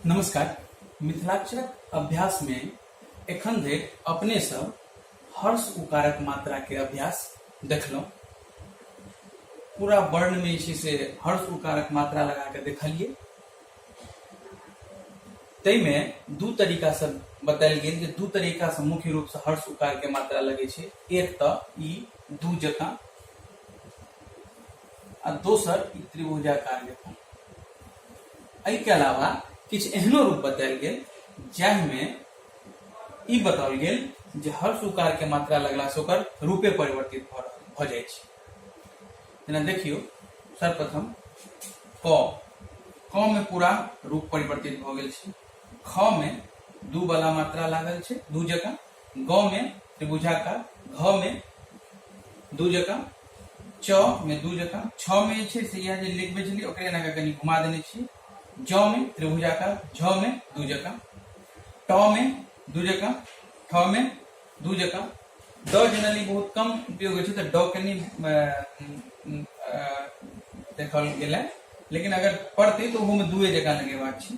नमस्कार मिथिलाक्षरक अभ्यास मे एखन धरि अपने सब हर्ष उकारक मात्रा के अभ्यास देखलहुँ पूरा वर्ण में जे से हर्ष उकारक मात्रा लगा के देखलिए तई में दू तरीका से बतायल गेल जे दू तरीका से मुख्य रूप से हर्ष उकार के मात्रा लगे छै एक त ई दू जकाँ आ दोसर ई त्रिभुजाकार रेखा एहि के अलावा किछु एहनो रूप बतायल गेल जाहिमे ई बताओल गेल जे हर सुकार के मात्रा लगला से ओकर रूपे परिवर्तित भऽ रहल- भऽ जाइ छै जेना देखियौ सर्वप्रथम क क मे पूरा रूप परिवर्तित भऽ गेल छै ख मे दू वाला मात्रा लागल छै दू जगह ग में त्रिभुजाकार घ में दू जका च में दू जका छ में जे छै से इएह जे लिखबै छलियै ओकरे एना कऽ कनि घुमा देने छी ज में त्रिभुजाकार झ में दू जका ट में दू जका ठ में दू जका ड जनरली बहुत कम उपयोग होइ छै तऽ ड कनि देखल गेलै लेकिन अगर पढ़तै तऽ ओहोमे दूए जकाँ लगेबाक छै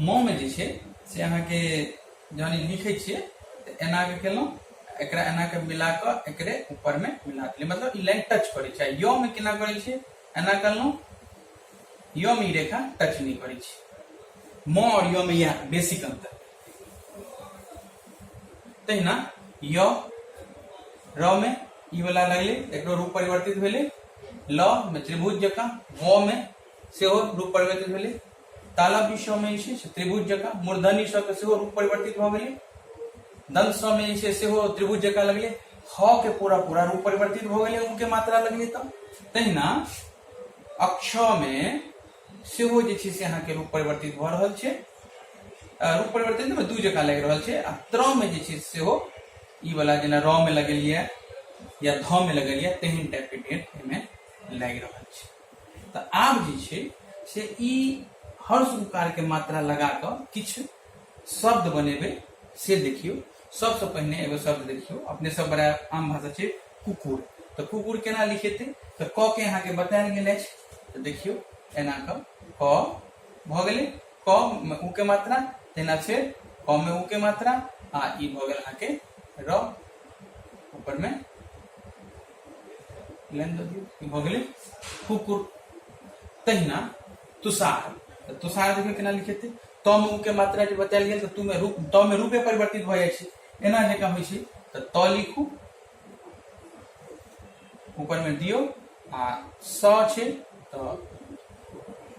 म में जे छै से अहाँ के जहन ई लिखे छियै तऽ एना के केलहुँ एकरा एना के मिला कऽ एकरे ऊपर में मिला देलियै मतलब ई लाइन टच करै छै यो में केना करै छै एना केलहुँ यो में ई रेखा टच नहीं करै छै म और यो में यह बेसिक अंतर तहिना यो र में ई वाला लगले एकरो रूप परिवर्तित भेले ल में त्रिभुज जकाँ व में सेहो रूप परिवर्तित भेले तालब विषय में जे छै त्रिभुज जकाँ मूर्धनी स के सेहो रूप परिवर्तित भ गेलै दंत स में जे छै सेहो त्रिभुज जकाँ लगलै ह के पूरा पूरा रूप परिवर्तित भ गेलै उ के मात्रा लगलै त तहिना अक्ष में सेहो जे छै से अहाँके रूप परिवर्तित भ रहल छै रूप परिवर्तित में दू जकाँ लागि रहल छै आ त्र में जे छै सेहो ई वाला जेना र में लगेलियै या ध में लगेलियै तेहन टाइप के डेट एहिमे लागि रहल छै तऽ आब जे छै से ई हर्ष उकारके मात्रा लगा कऽ किछु शब्द बनेबै से देखियौ सबसँ पहिने एगो शब्द देखियौ अपने सब बड़ा आम भाषा छै कुकुर तऽ कुकुर केना लिखेतै तऽ क के अहाँके बतायल गेल अछि तऽ देखियौ एना कऽ क भऽ गेलै क मे उ के मात्रा तहिना फेर क मे उ के मात्रा आ ई भऽ गेल अहाँके र ऊपरमे लाइन दऽ दियौ ई भऽ गेलै कुकुर तहिना तुषार तऽ तुषार देखियौ केना लिखेतै त मे ऊ के मात्रा जे बतायल गेल तऽ तू मे रूप त मे रूपे परिवर्तित भऽ जाइ छै एना जकाँ होइ छै तऽ त लिखू ऊपर में दियो आ स छै तो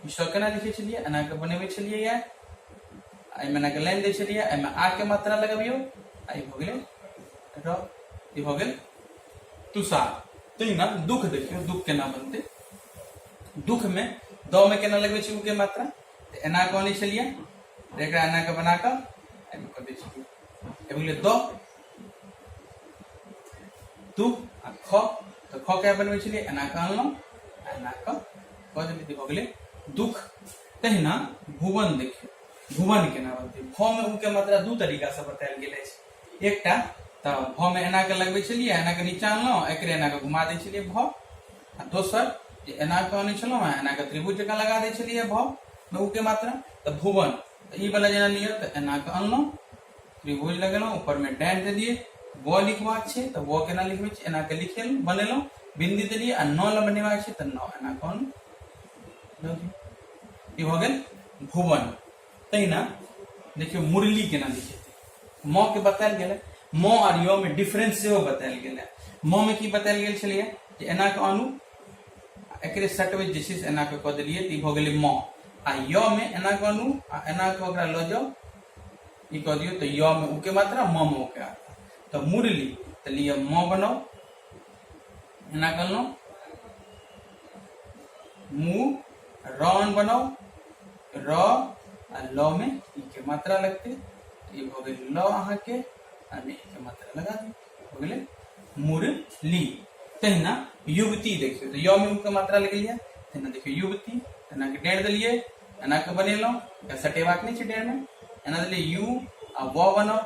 ई स केना लिखे छलिए एना के बनेबे छलिए या एहिमे एना के लाइन दै छलिए एहिमे आ के मात्रा लगबियो आ ई भऽ गेलै र ई भऽ गेल तुषार तहिना दुख देखियौ दुख केना बनतै दुखमे दमे केना लगबै छै उके मात्रा तऽ एना कऽ अनै छलियै तऽ एकरा एना कऽ बना कऽ एहिमे कऽ दै छलियै एहि भेलै द दू आ ख तऽ ख केना बनबै छलियै एना कऽ अनलहुँ आ एना कऽ कऽ देलियै तऽ भऽ गेलै दुख तहिना भुवन देखियौ भुवन केना बनतै भमे उके मात्रा दू तरीकासँ बतायल गेल अछि एकटा तऽ भ मे एना के लगबै छलियै एना के नीचा अनलहुँ एकरे एना के घुमा दै छलियै भ आ दोसर जे एना के अनै छलहुँ हेँ एना के त्रिभुज जकाँ लगा दै छलियै भ मे ऊ के मात्रा तऽ भुवन तऽ ई वाला जेना लिअ तऽ एना के अनलहुँ त्रिभुज लगेलहुँ ऊपर में डैन दे दिए व लिखबाक छै तऽ व केना लिखबै छी एना के लिखेलहुँ बनेलहुँ बिंदी देलियै आ न ल बनेबाक छै तऽ न एना कऽ अनलहुँ दऽ दियौ। ई भऽ गेल भुवन तहिना देखियौ मुरली केना लिखेतै म के बतायल गेल म आर य में डिफरेंस सेहो बतायल गेल म में की बतायल गेल छलैया जे एना के अनु एकरे सटवे जे छै एना के कऽ देलियै तऽ ई भऽ गेलै म आ य में एना के अनु आ एना के ओकरा लऽ जाउ ई कऽ दियौ तऽ य में उ के मात्रा म में उ के तऽ मुरली तऽ लिअ म बनाउ एना कहलहुँ मु र अन बनाओ र आ ल में ई के मात्रा लगते ई हो गई ल अहाँ के आ में ई के मात्रा लगा दी हो गई मुरली तहिना युवती देखियो तो य में उ के मात्रा लगे लिया तहिना देखियो युवती एना के डेढ़ दिलिए एना के बनेलो या सटेबाक नहीं छे डेढ़ में एना दिलिए यू आ व बनाओ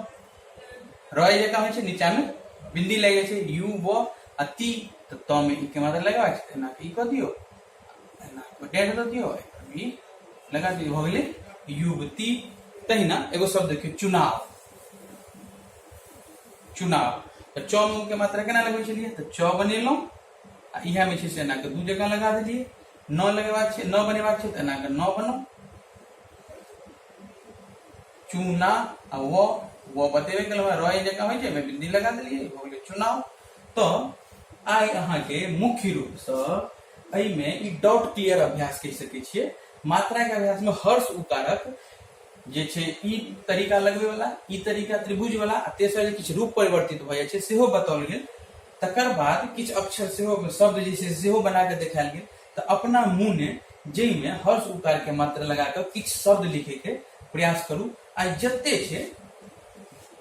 रही जगह हो नीचा में बिंदी लगे छे यू व आ ती तो त में ई के मात्रा लगवा छे एना ई क दियो एना को डेढ़ द दियो ई लगा दियो हो गेले युवती तहिना एगो शब्द देखियो चुनाव चुनाव तो च में के मात्रा केना लगबै छलिए तो च बनेलो आ इहा में छे से एना के दू जगह लगा देलिए न लगेबाक छे न बनेबाक छे तो एना के न बनो चूना आ वो वो बतेबे कल हमरा रॉय जका होइ छै मैं बिंदी लगा देलिए हो गेलै चुनाव तो आइ अहाँ के मुख्य रूप से एहि में ई डाउट क्लियर अभ्यास कहि सके छिए मात्रा के अभ्यास में हर्ष उकारक जे छै ई तरीका लगबे वाला ई तरीका त्रिभुज वाला आ तेसर जे किछु रूप परिवर्तित भ जाइ छै सेहो बताओल गेल तकर बाद किछु अक्षर सेहो शब्द जे छै सेहो बना के देखायल गेल तऽ अपना मोने जाहिमे हर्ष उकारके मात्र लगा कऽ किछु शब्द लिखैके प्रयास करू आ जते छै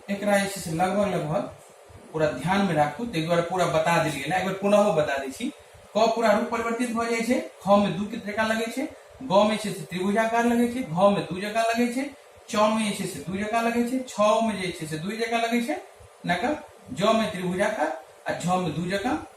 एकरा जे छै से लगभग लगभग पूरा ध्यानमे राखू ताहि दुआरे पूरा बता देल गेल एक बेर पुनः बता दै छी क पूरा रूप परिवर्तित भऽ जाइ छै ख मे दू के जकाँ लगै छै ग मे छै से त्रिभुजाकार लगै छै घ मे दू जकाँ लगै छै च मे जे छै से दू जकाँ लगै छै छ मे जे छै से दू जकाँ लगै छै ना क ज मे त्रिभुजाकार आ झ मे दू जकाँ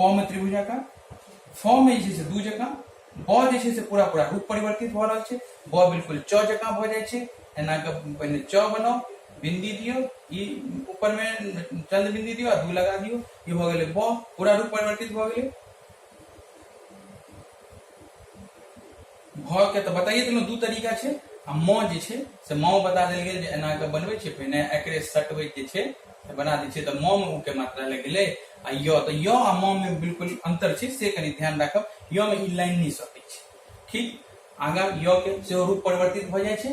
प में त्रिभुज आकार फ में जे दू जका ब जे पूरा पूरा रूप परिवर्तित भ रहा है ब बिल्कुल च जका भ जाए एना के पहले च बनाओ बिंदी दियो ई ऊपर में चंद्र बिंदी दियो दू लगा दियो ये भ गए ब पूरा रूप परिवर्तित भ गए भ के तऽ बताइए देलहुँ दू तरीका छै आ म जे छै से म बता देल गेल जे एना के बनबै छै पहिने एकरे सटबै जे छै से बना दै छै तऽ म मे उ के मात्रा लागि गेलै आ य तऽ य आ म मे बिल्कुल अंतर छै से कनी ध्यान राखब य मे ई लाइन नहि सटै छै ठीक आगा य के सेहो रूप परिवर्तित भऽ जाइ छै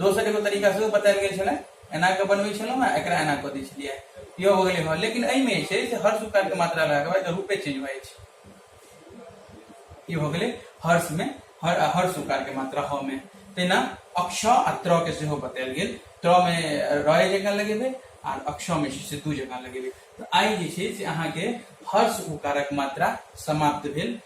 दोसर एगो तरीका सेहो बतायल गेल छलै एना कऽ बनबै छलहुँ हेँ एकरा एना कऽ दै छलियै इहो हो गेलै हँ लेकिन एहिमे जे छै से हर सुकारके मात्रा लगाके बाद रूपे चेंज भऽ जाइ छै ई हो गेलै हर्षमे हर आ हर सुकारके मात्रा ह मे तहिना अक्ष आ त्र के सेहो बतायल गेल त्र मे रय जकाँ लगेबै आ अक्ष मे छै से दू जकाँ लगेबै तऽ आइ जे छै से अहाँके हर्ष उकारक मात्रा समाप्त भेल